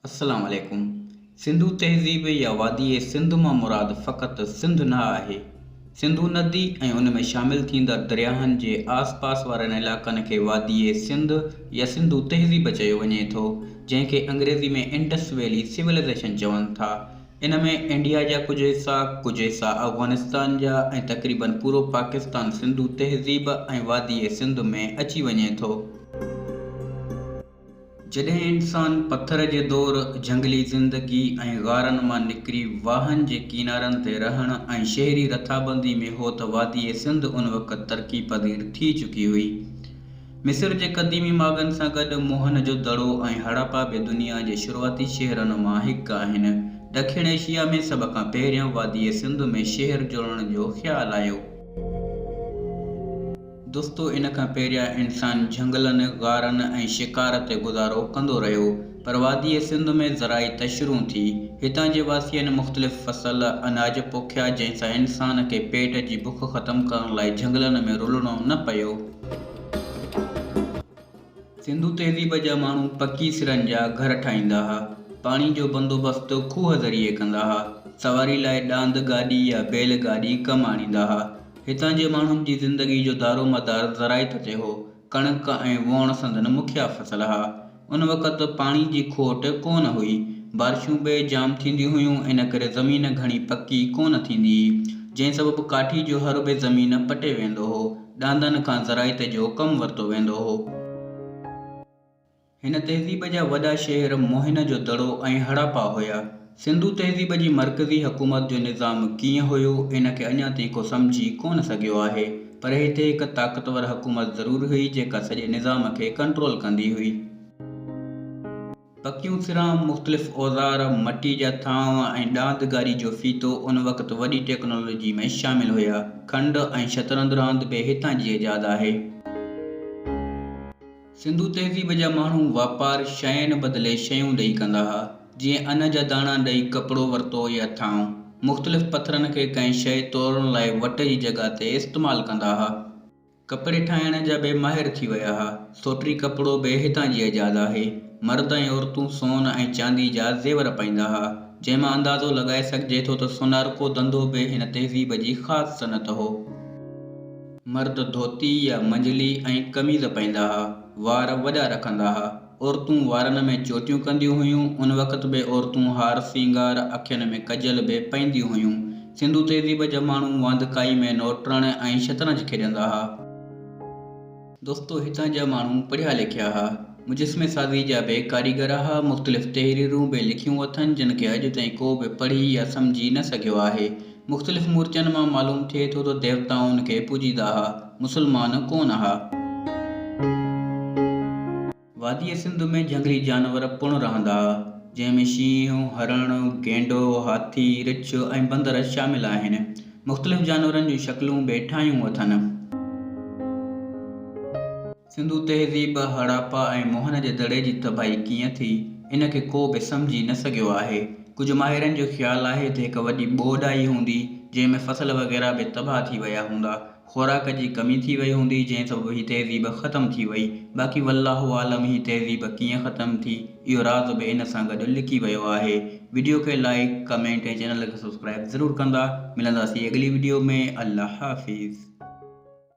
السلام عليڪم. سنڌو تهذيب يا واديء سنڌ مان مراد فقط سنڌ نه آهي. سنڌو ندي ۽ ان ۾ شامل ٿيندڙ درياهن جي آس پاس وارن علائقن کي واديء سنڌ يا سنڌو تهذيب چيو وڃي ٿو، جنهن کي انگريزي ۾ انڊس ويلي سولائيزيشن چون ٿا. ان ۾ انڊيا جا ڪجهه حصا، ڪجهه حصا افغانستان جا ۽ تقريبن پورو پاڪستان سنڌو تهذيب ۽ واديء سنڌ ۾ اچي وڃي ٿو. جڏهن انسان پٿر جي دور، جهنگلي زندگي ۽ غارن مان نڪري واهن جي ڪينارن تي رهڻ ۽ شهري رٿابندي ۾ هو ته واديء سنڌ ان وقت ترقي پذير ٿي چڪي هئي. مصر جي قديمي ماڳن سان گڏ موهن جو دڙو ۽ هڙاپا به دنيا جي شروعاتي شهرن مان هڪ آهن. ڏکڻ ايشيا ۾ سڀ کان پهريان واديء سنڌ ۾ شهر جوڙڻ جو خيال آيو. دوستو ان کان پهريان انسان جهنگلن، غارن ۽ شڪار تي گذارو ڪندو رهيو پر واديء سنڌ ۾ زرعي تشرون ٿي. هتان جي واسين مختلف فصل، اناج پوکيا جنهن سان انسان کي پيٽ جي بک ختم ڪرڻ لاء جهنگلن ۾ رلڻو نه پيو. سنڌو تهذيب جا ماڻهو پڪي سرن جا گهر ٺاهيندا ها. پاڻي جو بندوبست کوهه ذريعي ڪندا ها. سواري لاء ڏاند گاڏي يا بيل گاڏي ڪم آڻيندا ها. هتان جي ماڻهن جي زندگي جو دارومدار زراعت تي هو. ڪڻڪ ۽ ووڻ سندن مکيه فصل ها. ان وقت پاڻي جي کوٽ ڪو نه هئي. بارشون بي جام ٿينديون هيون ان ڪري زمين گهڻي پڪي ڪو نه ٿيندي هئي. جنهن سبب ڪاٺي جو هربي زمين پٽي ويندو هو. ڏاندن کان زراعت جو ڪم ورتو ويندو هو. هن تهذيب جا وڏا شهر موهن جو دڙو ۽ هڙاپا هيا. سنڌو تهذيب جي مرڪزي حڪومت جو نظام ڪيئن هيو، ان کي اڃا تائين ڪو سمجهي ڪونه سگهيو آهي. پر هتي هڪ طاقتور حڪومت ضرور هئي، جيڪا سڄي نظام کي ڪنٽرول ڪندي هئي. پڪيون سران، مختلف اوزار، مٽي جا ٿانو ۽ ڏاند گاري جو ڦيٿو ان وقت وڏي ٽيڪنالاجي ۾ شامل هيا. کنڊ ۽ شطرنج راند به هتان جي ايجاد آهي. سنڌو تهذيب جا ماڻهو واپار شين بدلي شيون ڏئي ڪندا ها. جيئن ان جا داڻا ڏئي ڪپڙو ورتو يا ٿانو. مختلف پٿرن کي ڪنهن شيء تولڻ لاء وٽ جي جڳهه تي استعمال ڪندا ها. ڪپڙي ٺاهڻ جا به ماهر ٿي ويا ها. سوٽري ڪپڙو به هتان جي ايجاد آهي. مرد ۽ عورتون سون ۽ چاندي جا زيور پائيندا ها، جنهن مان اندازو لڳائي سگهجي ٿو ته سونارڪو ڌنڌو به هن تهذيب جي خاص صنعت هو. مرد ڌوتي يا منجلي ۽ قميض پائيندا ها. وار وڏا رکندا ها. عورتون وارن ۾ چوٽيون ڪنديون هيون. ان وقت به عورتون هار سينگار، اکين ۾ ڪجل به پائينديون هيون. سنڌو تهذيب جا ماڻهو واندڪائي ۾ نوٽرڻ ۽ شطرنج کيڏندا ها. دوستو هتان جا ماڻهو پڙهيا لکيا ها. مجسمي سازي جا به ڪاريگر ها. مختلف تحريرون به لکيون اٿن جن کي اڄ تائين ڪو به پڙهي يا سمجهي نه سگهيو آهي. مختلف مورتين مان معلوم ٿئي ٿو ته ديوتائن کي پوڄيندا ها. مسلمان ڪونه ها. واديء سنڌ ۾ جهنگلي جانور پڻ رهندا ها، جنهن ۾ شينهن، هرڻ، گينڊو، هاٿي، رڇ ۽ بندر شامل آهن. مختلف جانورن جون شڪلون به ٺاهيون اٿن. سنڌو تهذيب، هڙاپا ۽ موهن جي دڙي جي تباهي ڪيئن ٿي، ان کي ڪو به سمجهي نه سگهيو آهي. ڪجهه ماهرن جو خيال آهي ته هڪ وڏي ٻوڏ آئي هوندي، جنهن ۾ فصل وغيره به تباهه ٿي ويا هوندا. خوراڪ جي ڪمي ٿي وئي هوندي، جنهن سبب هي تهذيب ختم ٿي وئي. باقي والله عالم هي تهذيب ڪيئن ختم ٿي، اهو راز به ان سان گڏ لڪي ويو آهي. وڊيو کي لائيڪ، ڪمينٽ ۽ چينل کي سبسڪرائيب ضرور ڪندا. ملنداسين اڳلي وڊيو ۾. الله حافظ.